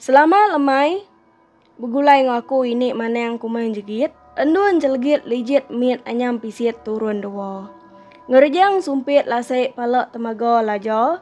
Selama lemai begulai enggau aku ini manang kuman jegit, endun jelegit lijit mit anyam pisit turun dewa. Ngerejang sumpit lasek pala temaga laja.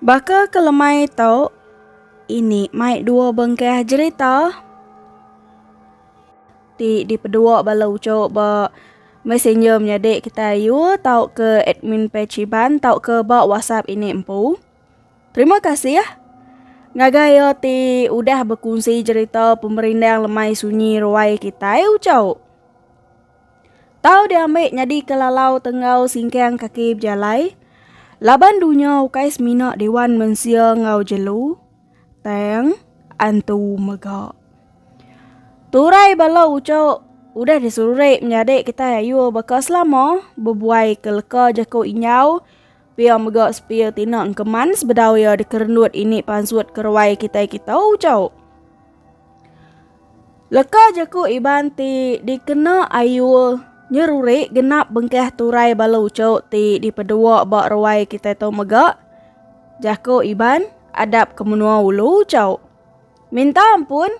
Baka ke lemai tu, ini mai dua bengkah jerita ti dipedua bala uchu ba messenger menyadi kitai ayu tauka admin page Iban tauka ba whatsapp ini empu. Terima kasih ngagai iya ti udah bekunsi cerita pemerindang lemai sunyi ruai kitai ucau. Tau diambi nyadi ke lalau tenggau singkang kaki bejalai laban dunya ukai semina dewan mensia enggau jelu tang antu mega. Turai bala ucau udah diserurik menyadi kitai ayu baka selama bebuai ke leka jaku injau. Pia mega sepia ti enda engkeman sebedau iya dikerenut ini pansut keruai kitai kitou ucau. Leka jaku Iban ti dikena ayu nyeruri genap bengkah turai bala ucu ti dipedua ba ruai kitai tu mega jaku Iban adap ke menua ulu ucau. Minta ampun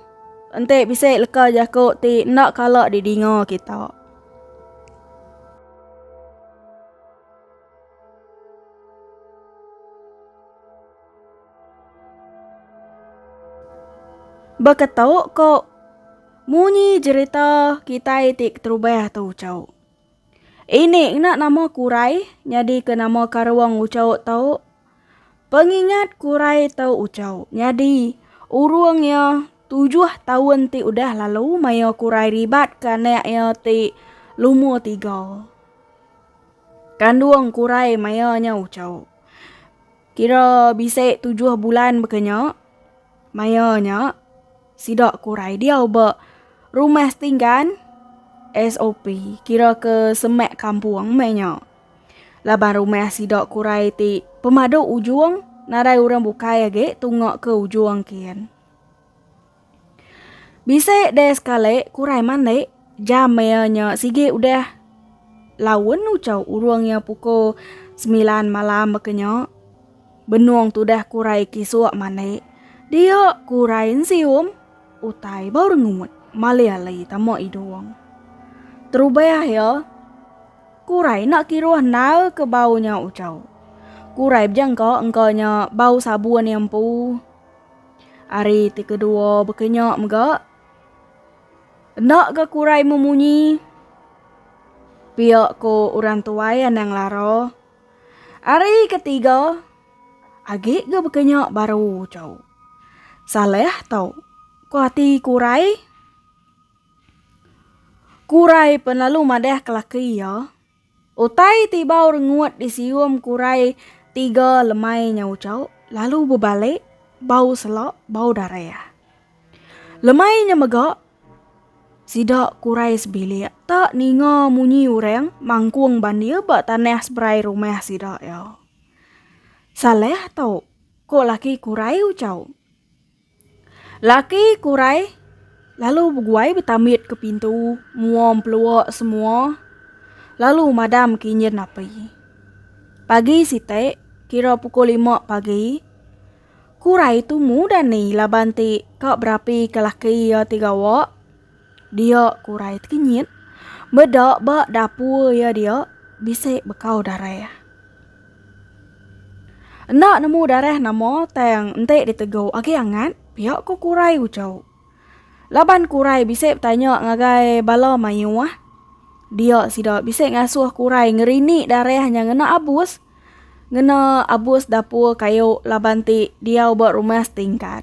enti bisi leka jaku ti enda kala didinga kita. Baka tau ko munyi jerita kitai ti keterubah tu ucau. Ini ngena nama kurai nyadi ke nama karung ucau tau. Pengingat kurai tau ucau nyadi urung iya tujuh taun ti udah lalu maya kurai ribat ke anak iya ti lumur tiga. Kandung kurai maya nya uchau. Kira bisi tujuh bulan baka nya, maya nya sida kurai diau ba Rumah Setinggan, SOP, kira ke semak kampung meh nya. Laban rumah sida kurai ti pemadu ujung nadai orang bukai agi tunga ke ujung kin. Bisi deh sekali ku Rai mandi, jam iya nya sigi udah laun ucau urung iya pukul semilan malam baka nya. Benung tudah ku Rai kisuk mandi. Dia ku Rai ensium utai bau rengut malih ali tama idung. Terubah iya ku Rai enda kiruh endar ke bau nya ucau. Ku Rai bejengka engka nya bau sabun iya empu. Ari ti kedua baka nya mega. Enda ga kurai memunyi. Pia ko orang tuai anang lara. Ari ke tiga agi ga baka nya baru chau. Salah tau ko ati kurai. Kurai pun lalu madah ke laki iya. Utai ti bau rengut disium kurai tiga lemai nyau chau lalu bebali bau sela bau darah. Lemai nya mega sida kurai sebilik ta ninga munyi urang mangkung bandir ba tanah seberai rumah sida iya. Salah tau, ko laki kurai uchau. Laki Kurai lalu beguai betamit ke pintu mua empelua semua lalu madam ke injin api. Pagi siti kira pukul lima pagi Kurai tu mudah ni laban ti ka berapi ke laki iya ti gawa. Dia, ku Rai tekenyit. Meda ba dapur iya dia, bisi bekau darah. Enda nemu darah nama tang enti ditegu agi angat, pia ko ku Rai uchu. Laban ku Rai bisi betanya ngagai bala mayuh, dia sida bisi ngasuh ku Rai ngerini darah nya ngena abus, ngena abus dapur kayu laban ti diau ba rumah setingkat.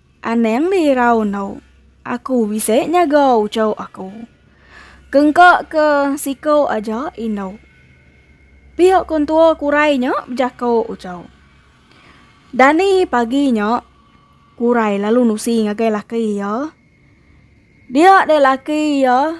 Anang di irau endo. Aku bisi nyaga uchu aku. Kengka ke siku aja indu. Pia kontua kurai nya bejako uchu. Dani pagi nya kurai lalu nusi ngagai laki iya. Dia deh laki iya.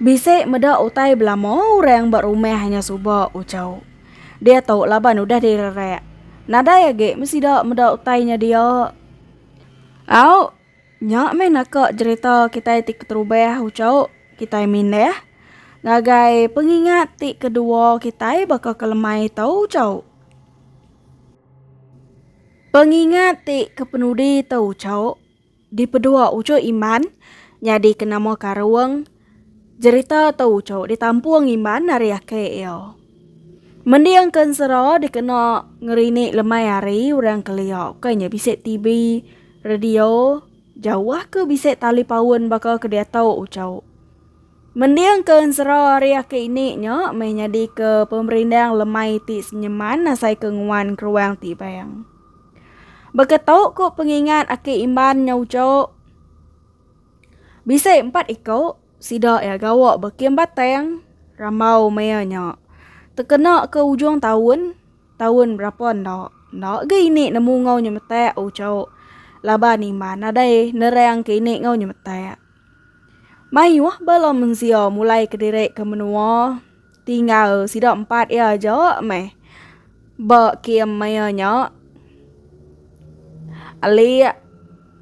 Bisi meda utai belama orang ba rumah nya suba uchu. Diatu laban udah direrak. Nadai agi mesida meda utai nya dia. Au, nya meh naka jerita kitai ti keterubah uchu kitai mindah ngagai pengingat ti kedua kitai baka ke lemai tu uchu. Pengingat ti kepenudi tu uchu. Dipedua uchu Iman nyadi ke nama Karung. Jerita tu uchu ditampung Iman ari aki iya. Mending ke ensera dikena ngerinik lemai hari orang kelia ukai nya bisi TV, radio, jauh ke bisi tali paun baka ke diatu uchu. Mending ke ensera ari aki ini nya meh nyadi ke pemerindang lemai ti senyeman asai ke nguan keruang ti bang. Baka tu ku pengingat aki Iman nya ujo. Bisi empat iku sida iya gawa ba kem Batang rambau maya nya. Tekena ke ujung taun, taun berapa enda, enda ga ini nemu enggau nyemetak ujo laban Iman nadai nerang ke ini enggau nyemetak. Mayuh bala mensia mulai kediri ke menua. Tinggal sida empat iya aja meh ba kem maya nya. Alik,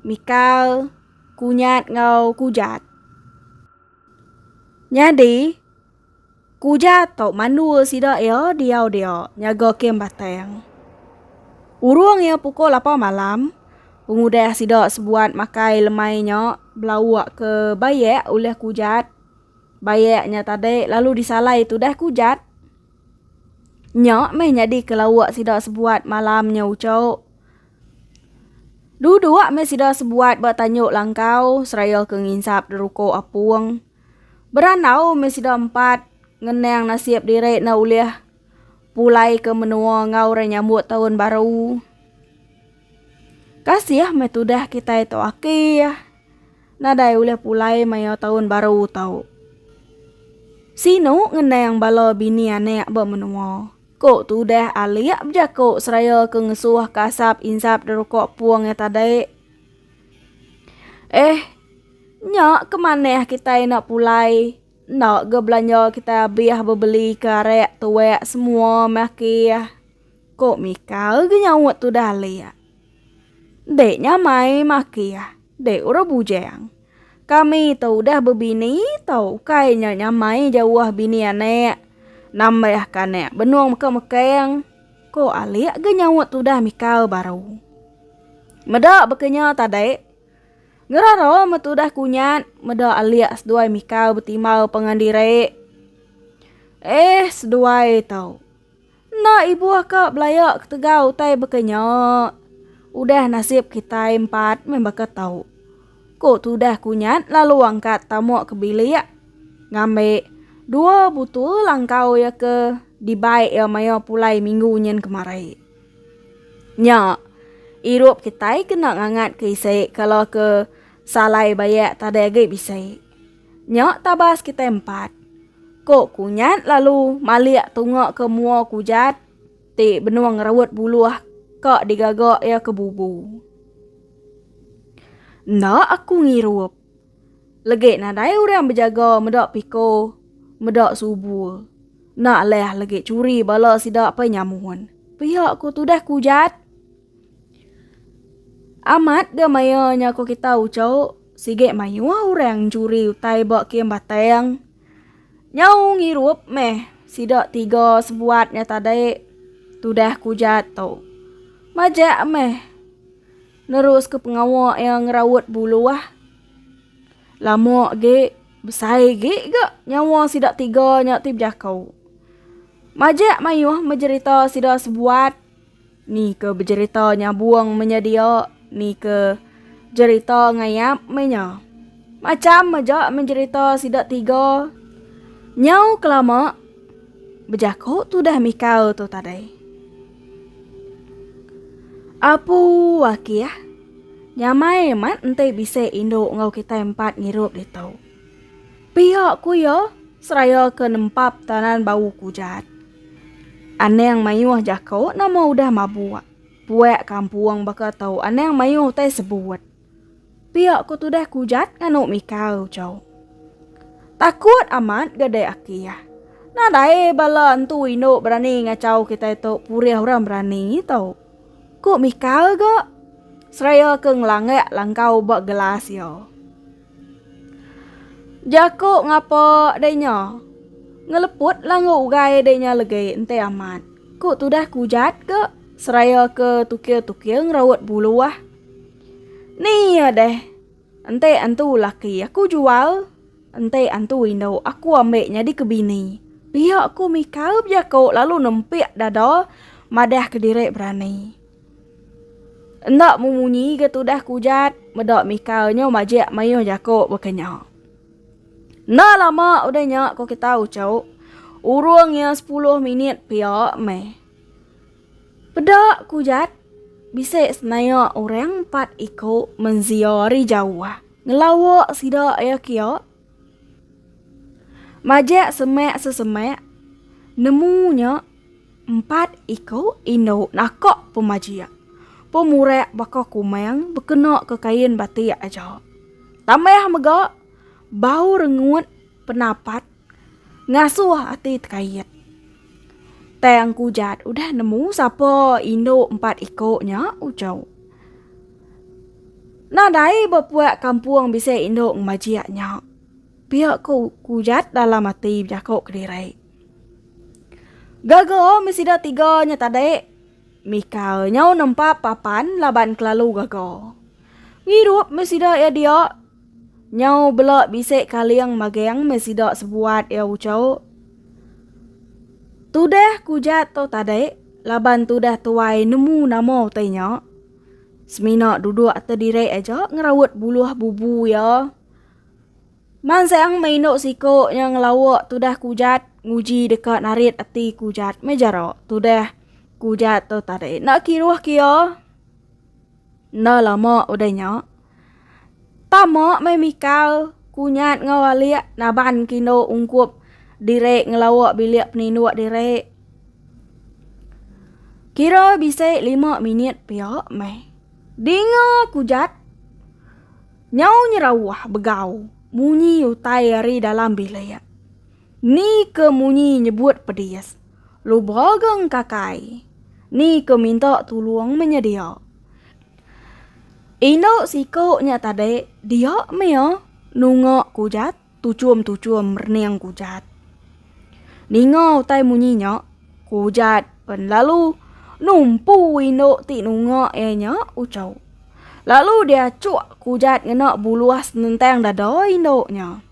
Mikal, Kunyat enggau Kujat. Nyadi, Kujat tu mandul sida iya diau dia nyaga kem Batang. Urung iya pukul lapan malam, pengudah sida sebuat makai lemai nya belauk ke bayak ulih Kujat Bayak nya tadi lalu disalai tudah kujat. Nya meh nyadi ke lauk sida sebuat malam nya ucok. Duduk meh sida sebuat ba tanyuk langkau seraya ke nginsap deruko apung. Berandau meh sida empat ngenang nasib diri enda ulih pulai ke menua enggau orang nyambut taun baru. Kasih meh tudah kitai tu aki. Nadai ulih pulai maya taun baru tau. Sinu ngenang bala bini anak ba menua, ko tudah alik bejako seraya ke ngesuh ke asap insap deruko pung iya tadi. Eh, nya ke manah kitai enda pulai, enda ga belanja kitai abih bebeli ke arak tuak semua meh kieh, ko Mika ga nyaut tudah alik. Dek nya mai makih, dek urang bujang. Kami tu udah bebini tau ukai nya nya mai jauh bini anak. Nambah ke anak benung meka mekang, ko alik ga nyaut tudah mikal baru. Meda baka nya ta dek. Ngerara me tudah kunyat meda alik seduai mikal betimbal pengendiri. Eh seduai tu. Enda ibuh ka belaya ketegal utai baka nya. Udah nasib kitai empat meh baka tau. Ku Tudah Kunyat lalu angkat tamu ke bilik ngambi dua butul langkau iya ke dibai iya maya pulai minggu nyin kemari. Nya, irup kitai kena ngangatka isi kala ke salai bayak tadai agi bisi. Nya tabas kitai empat. Ko Kunyat lalu malik tunga ke mua Kujat ti benung ngeraut buluh ka digaga iya ke bubu. Enda aku ngirup. Legi nadai orang bejaga meda piko meda subu. Enda leh legi curi bala sida pai nyamun. Pia ko tudah Kujat. Amat ga maya nya ko kita uco sigi mayuh orang curi utai ba kem batang nyau ngirup meh sida tiga sebuat nya tadi tudah ke uja tu majak meh nerus ke pengawa ia ngeraut buluh lama agi besai agi ga nyawa sida tiga nya ti bejako majak mayuh menjerita sida sebuat Ni ke bejerita nyabung meh nya dia, ni ke jerita ngayap meh nya. Macham aja meh jerita sida tiga nyau kelama bejaku tudah mikau tu tadai. Apu Wakih, nyamai amat enti bisi indu enggau kitai empat ngirup ditu. Pia ku iya seraya ke nempap tanan bau kujat. Anang mayuh jako nama udah mabuk. Puak kampung baka tau anang mayuh utai sebut. Pia ku tudah kujat nganu mikau cau. Takut amat gadai akih. Nadai bala entu indu berani ngacau kitai tu purih orang berani tau. Ku mikau ga seraya ke ngelangak langkau ba gelas iya. Jaku ngapa deh nya. Ngeleput lah enggau ugai deh nya legi enti amat. Ku tudah kujat ke seraya ke tukir-tukir ngeraut bulu ah. Ni ya deh. Enti antu laki aku jual, enti antu indu aku ambil nyadi ke bini. Pia ku Mika bejaku lalu nempik dada madah kediri berani. Enda memunyi ke tudah ke ujat, meda Mika nyu majik mayuh jaku baka nya. Enda lama udah nya ko kita uchu, urung iya sepuluh minit pia meh. Peda ke ujat, bisi senaya orang empat iku menzia ari jauh ngelawa sida iya kia. Majak semak sesemak, nemu nya empat iku indu naka pemajak pemurak baka kumang bekena ke kain batik aja. Tambah mega bau rengut penapat ngasuh ati tekait. Tang ku Jat udah nemu sapa indu empat iko nya ujau. Nadai bepuak kampung bisi indu ngemajik nya. Pia ku ku Jat dalam ati bejako kediri. Gaga me sida tiga nya tadi Mika nyau nempa papan laban kelalu gaga. Ngirup me sida iya dia. Nyau bela bisi kaling maging meh sida sebuat iya ucok. Tudah ku Jat tu tadi, laban tudah tuai nemu nama utai nya. Semina duduk ati diri aja ngeraut buluh bubu iya. Mansang meh indu siko nya ngelawa tudah ku Jat nguji deka narit ati ku Jat meh jara tudah ku Jat tu tadi enda kiruh ke iya. Enda lama udah nya, tama meh Mikal, Kunyat enggau Alik naban ke indu ungkup diri ngelawa bilik peninduk diri. Kira bisi lima minit pia meh, dinga Kujat nyau nyerauh begau munyi utai ari dalam bilik. Ni ke munyi nyebut pedis. Lubra ga engkakai. Ni ke minta tulung menyedia. Indu siku nya tadi dia mia nunga kujat tuchum-tuchum rening kujat. Ninga utai munyi nya, kujat pen lalu numpu indu ti nunga iya nya uchu. Lalu diachuk kujat ngena buluh senentang dada indu nya.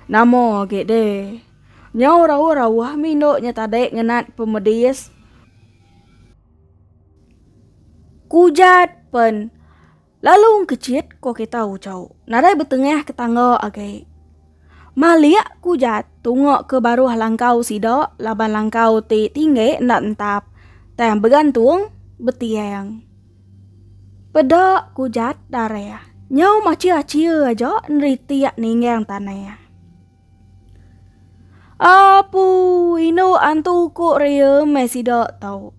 Nama agi deh. Nyau rawa rawah mih indu nya tadi ngenat pemedis. Kujat pen. Lalu engkechit ko kita ucau. Nadai betengah ke tangga agi. Malik kujat tunga ke baruh langkau sida laban langkau ti tinggi enda entap tang begantung betiang. Peda ku Jat Dareh. Nyau machia-chia aja neritik ninggang tanah. Apu, indu antu ku ria meh sida tau.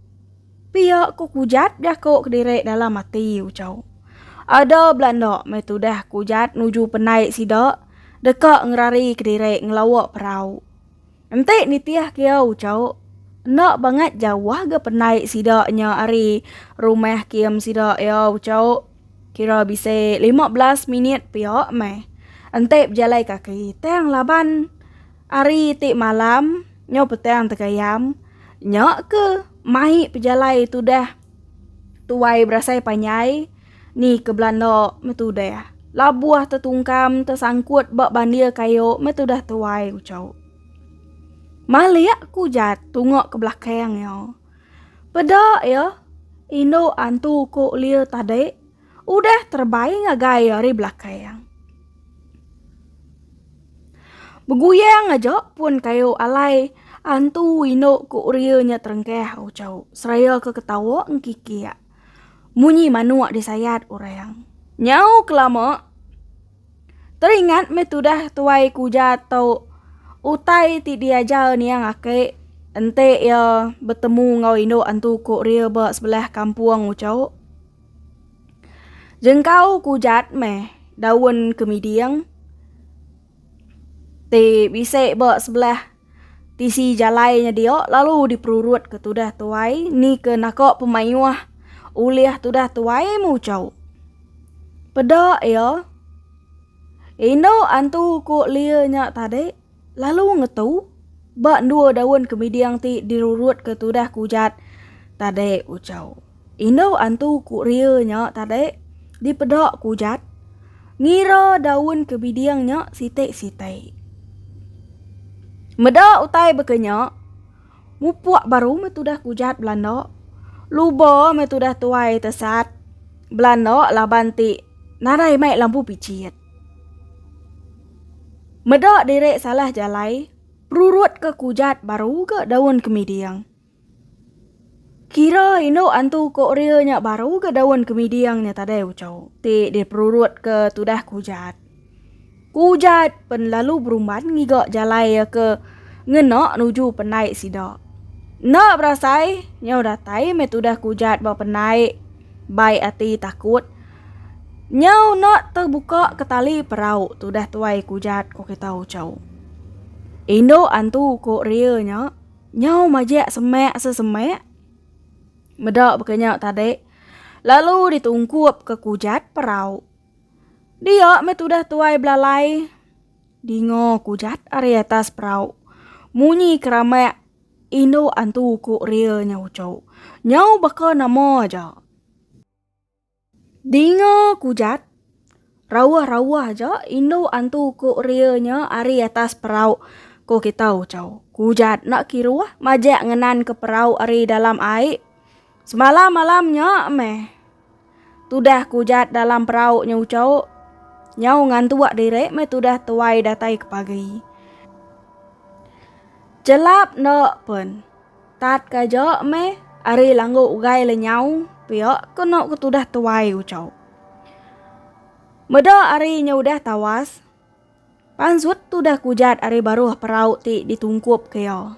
Pia ku Kujat jaku kediri dalam ati Ucau. Ada belanda meh tudah Kujat nuju penai sida deka ngerari kediri ngelawa perau. Enti nitih kia uchauk, enda bangat jauh ga pendai sida nya ari rumah kium sida iya uchauk kira bisi lima belas minit pia meh. Enti bejalai kaki tang laban hari ti malam nyau petang tegayam nya ke mai pejalai tudah tuai berasai panjai. Ni ke belanda meh tudah. Labuh tetungkam tesangkut ba bandir kayu meh tudah tuai ucau. Malik ku jat tunga ke belakang ya. Peda ya indu antu ku lir tadi udah terbai ngagai ari belakang. Beguyang aja pun kayu alai antu indu ku lir nya terengkah ucau seraya ke ketawa engkikik. Munyi manuk disayat orang. Nyau kelama, teringat meh tudah tuai kuja tu utai ti diajar niang aki enti iya betemu enggau indu antu kurir ba sebelah kampung uchu. Jengkau kujat meh daun kemiding ti bisi ba sebelah. Tisi jalai nya dia lalu diperurut ke tudah tuai ni ke naka pemayuh ulih tudah tuai muchau. Peda ia Indu antu ku Lia nya tadi lalu ngetu ba dua daun kemiding ti dirurut ke tudah kujat tadi ucau. Indu antu ku ria nya tadi dipeda ku Ujat ngira daun ke biding nya siti-siti. Meda utai baka nya, mupuk baru meh tudah ku Ujat belanda. Luba meh tudah tuai tesat belanda laban ti nadai mai lampu pijit. Meda diri salah jalai, perurutka ku Ujat baru ga daun ke miding. Kira indu antu Korea nya baru ga daun kemiding nya tadai uchu ti diperurutka tudah Kujat. Kujat pen lalu berumban ngiga jalai iya ke ngena nuju penai sida. Enda berasai nyau datai meh tudah Kujat ba penai bai ati takut nyau enda tebuka ke tali perau tudah tuai Kujat ko kita uchu. Indu antu Korea nya. Nyau majak semak se semak. Meda baka nya tadi, lalu ditungkup ke kujat perau. Dia meh tudah tuai belalai. Dinga kujat ari atas perau. Munyi keramak indu antu ku ria nya uchu. Nyau baka nama aja. Dinga kujat, rauh-rauh aja indu antu ku ria nya ari atas perau, ko kita Uchau. Kujat enda kiruh majak ngenanka perau ari dalam ai. Semalam malam nya meh tudah kujat dalam perau nya Uchau. Nyau ngantuk diri meh tudah tuai datai ke pagi. Chelap enda pen. Tat ka aja meh ari langgu ugai le nyau pia ke eno ke tudah tuai ucau. Meda ari nya udah tawas, pansut tudah kujat ari baruh perau ti ditungkup ke iya.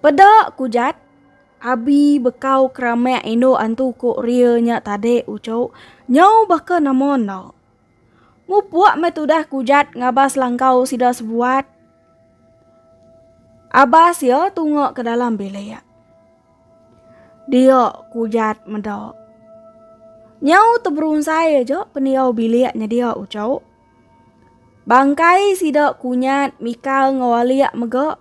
Peda kujat abi bekau keramek indu antu ku Ria nya tadi ucau nyau baka nama enda. Mupuk meh tudah kujat ngabas langkau sida sebuat. Abas ya tunga ke dalam bilik. Dia kujat meda. Nyau teberunsai aja pendiau bilik nyedia ucau. Bangkai sida kunyat mikal ngawalik mega.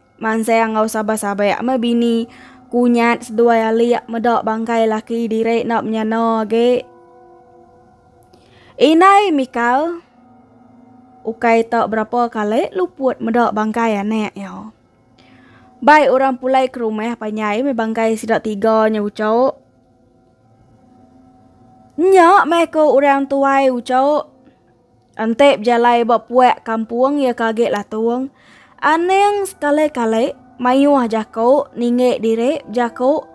Mansang enggau sabai-sabai ame bini kunyat seduai alik meda bangkai laki diri enda menyana agi. Indai Mikal ukai ta berapa kali luput meda bangkai anak iya. Bai orang pulai ke rumah panjai meh bangkai sida tiga nya ucok. Nya meh ko orang tuai ucok. Enti bejalai ba puak kampung iya ke agi latung, Aning sekali-kali mayuh jaku ninggi diri bejaku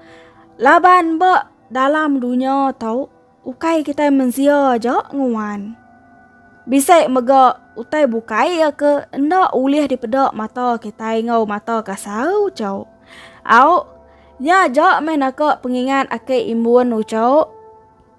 laban ba dalam dunya tu ukai kitai mensia aja nguan. Bisi mega utai bukai iya ke enda ulih dipeda mata kitai enggau mata kasar uchu. Au, nya aja meh naka pengingat aki imbun uchu.